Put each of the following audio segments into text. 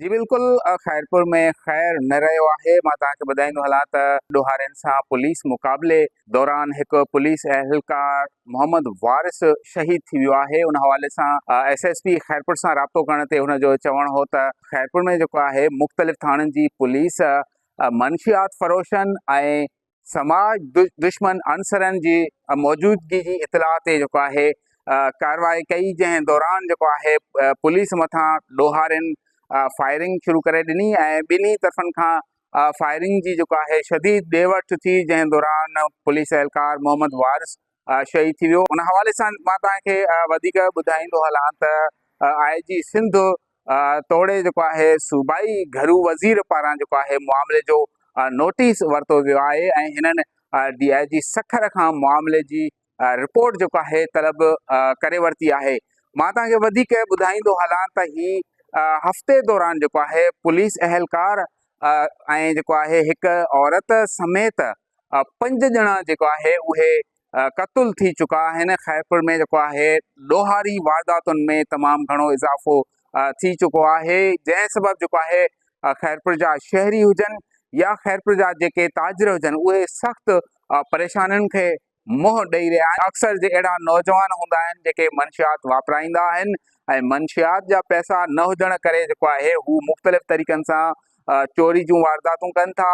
جي بلڪل خيرپور ۾ خير نه رهيو آهي مان توهان کي ٻڌائيندو هلان ته ڏوهارين سان پوليس مقابلي دوران هڪ پوليس اهلڪار محمد وارث شهيد ٿي ويو آهي ان حوالي سان ايس ايس پي خيرپور سان رابطو ڪرڻ تي هن جو چوڻ هو ته خيرپور ۾ جيڪو آهي مختلف ٿاڻن جي پوليس منشيات فروشن ۽ سماج دشمن عنصرن جي موجودگي جي اطلاع تي جيڪو آهي ڪارروائي ڪئي جنهن دوران جيڪو آهي پوليس مٿان ڏوهارين فائرنگ شروع ڪري ڏني ۽ ٻنهي طرفن کان فائرنگ جي جيڪو آهي شديد ڏي وٺ ٿي جنهن دوران پوليس اهلڪار محمد وارث شهيد ٿي ويو ان حوالي سان مان توهان کي وڌيڪ ٻڌائيندو هلان ته آء جي سنڌ توڙي جيڪو آهي صوبائي گهرو وزير پاران جيڪو آهي معاملي جو نوٽيس ورتو ويو آهي ۽ هنن ڊي آء جي سکر کان معاملي جي رپورٽ جيڪو آهي طلب ڪري ورتي آهي مان توهان کي وڌيڪ ٻڌائيندو هلان ته هي هفتي دوران جيڪو آهي پوليس اهلڪار ۽ جيڪو آهي هڪ عورت سميت پنج ڄڻا جيڪو آهي اهي قتل ٿي چڪا آهن خيرپور ۾ جيڪو آهي ڏوهاري وارداتن ۾ تمام گهڻو اضافو ٿي چڪو آهي جنهن سبب جيڪو آهي خيرپور جا شهري هجن يا خيرپور جا جيڪي تاجر هجن اهي سخت پريشانين کي منهن ڏيئي رهيا آهن اڪثر جي اهڙا نوجوان هوندا آهن جيڪي منشيات واپرائيندا آهن ۽ منشيات جا پئسا نه هجڻ ڪري جيڪو آهي هو مختلف طريقن سان چوري جون وارداتون ڪن ٿا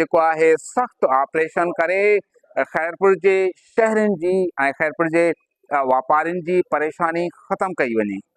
جيڪو آهي سخت آپريشن ڪري خيرپور جي شهرين جي ۽ خيرپور جي واپارين جي پريشاني ختم ڪئي وڃي.